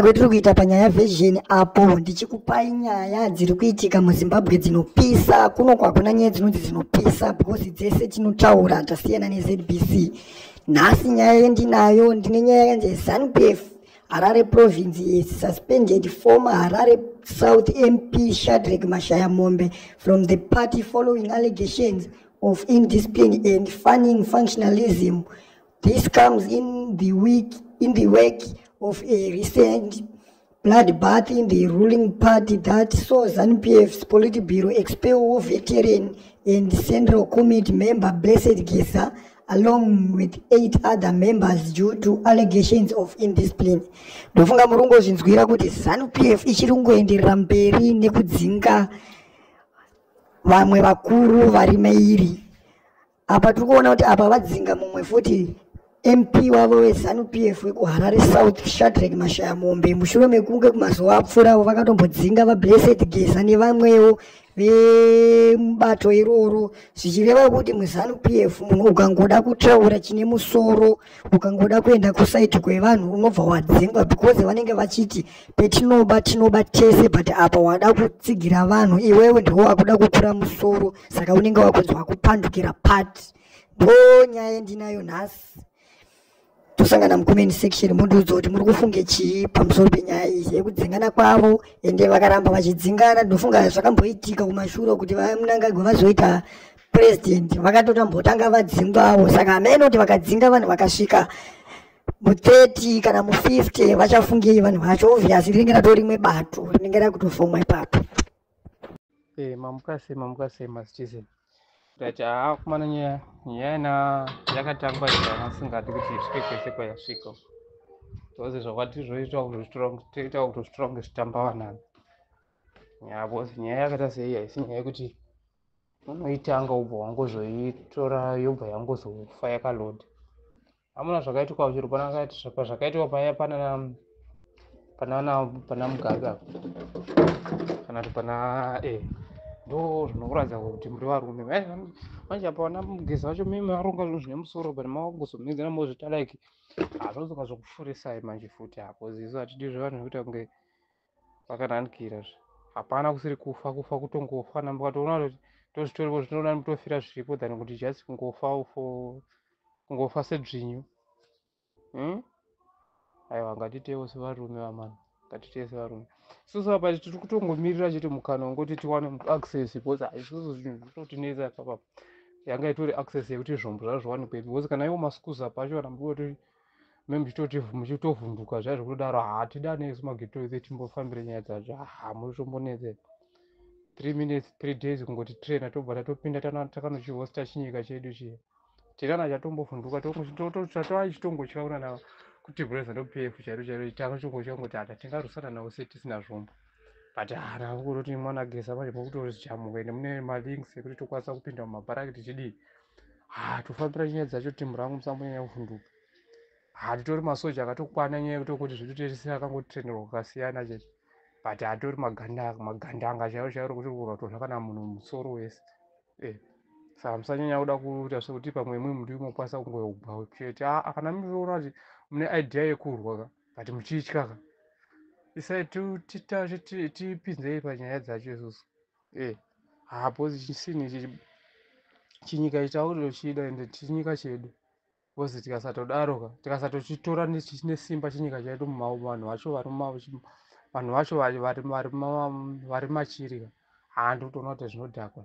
kwetiri kuita panyaya version apo ndichikupai nyaya dziri kuitika muzimbabwe dzinopisa kuno kwakuna nyaya dzinonzi dzinopisa because dzese tinotaura tasiyana nezbc nhasi nyaya yendinayo ndine nyaya yanzi zanupf harare province is suspended former harare south mp shadrek mashaya mombe from the party following allegations of indiscipline and funning functionalism This comes in the week in the wake of a recent bloodbath in the ruling party that saw ZANU-PF's Politburo expel war veteran and Central Committee member Blessed Gesa along with eight other members due to allegations of indiscipline. Ndofunga murungu ozvinzwira kuti ZANU-PF ichiri kungoenderera mberi nekudzinga vamwe vakuru vari mairi apa tiri kuona kuti apa vadzinga mumwe futi mp wavo wezanu p f wekuharare south shadrek mashaya mombe mushure mekunge kumazuva apfuuravo vakatombodzinga vablessed geza nevamwewo vemubato iroro zvichireva kuti muzanu p f munhu ukangoda kutaura chine musoro ukangoda kuenda kusaiti kwevanhu unobva wadzingwa because vanenge vachiti petinoba tinoba tese but apa wada kutsigira vanhu iwewe ndiwo wakuda kukura musoro saka unenge wakunzwa kupandukira part ndo nyaya yendinayo nhasi tosangana mucomment section mundiudza kuti muri kufunge chii pamusoro penyaya iyi yekudzingana kwavo ende vakaramba vachidzingana ndinofunga zvakamboitika kumashure kuti vamunangagwa vazoita president vakatotambotanga vadzingwawo saka ameno kuti vakadzinga vanhu vakasvika mu30 kana mu50 vachafungei vanhu vacho obvious rinenge rato rimwe bato rinenge rakutofomwa ipapo Eh, mamuka sei mamuka sei masitizen ndati haa kumana nyaya nyaya ina yakatangwa chana asingadi kuti isvike kwese kwayasvika bcause zvakwati zvoita kutoita kutozvitora kunge zvitamba vanani nyaya bcause nyaya yakaita sei haisi nyaya yekuti unoitanga ubva wangozoitora yobva yangozofa yakaloda amuna zvakaitikwa zviri pana akati zvakaitikwa paya pana panana pana mugabe apo kana kuti pana e ndo zvinokuratidza kuti muri varume manje apa vana mugeza vacho mimi varonga zvinhu zvine musoro but mavakuzomhedzera mozvita like hazvozoka zvokufurisai manje futi apo zizo hatidi zvevanhu zvekuita kunge pakanandikira zve hapana kusiri kufa kufa kutongofa na mukatoona kuti tozvitoripo zvitinoona mutofira zviripo than kuti just kungofa for kungofa sedzvinyu hmm? aiwa ngatitewo sevarume vamana ngatitee sevarume isusu apa tiri kutongomirira chete mukana wongoti tiwane access because isusu zvinhu zvinotinetsa ipapapa yanga itori access yekuti zvombo zvazviwanikwepi because kana iwo maskuza pacho kana mbuoti me muchitoti muchitovhunduka zviya zvekutodaro hatidane isu magetoise timbofambire nyaya dzacho ha muri tombonetse three minutes three days kungoti traina tobva tatopinda takanochihosta chinyika chedu chiye tirana chatombovhunduka tatoa chitongotya kunana kuti brother ndo pf chairo chairo takachongotya kungoti hata tingarusana navo se tisina zvombo but hana kutoti mwana gesa manje mokutori zichamuka ende mune malinks ekuti tokwanisa kupinda mumabharakiti chidii haa tofambira nyaya dzacho timu rangu musambonyanya kuvhunduka haa titori masoja akatokwana nyaya yekuti kuti zvitotesese akangotrenderwa kwakasiyana chete but hatori magandanga chaivo chaivo rokuti kurwa kutorwa kana munhu musoro wese eh, saka musanyanya kuda kuita sekuti pamwe imwe muti imokwanisa kungoyogwa chete aa kana munoona kuti mune idea yekurwa ka but muchitya ka isai tipinzei panyaya dzacho isusu eh hapo chinhu ichi chinyika ichi tautochida ende chinyika chedu because tikasatodaro ka tikasatochitora nesimba chinyika chaitu vanhu vacho vanhu vacho vari machiri ka handi utoona kuti zvinodhakwa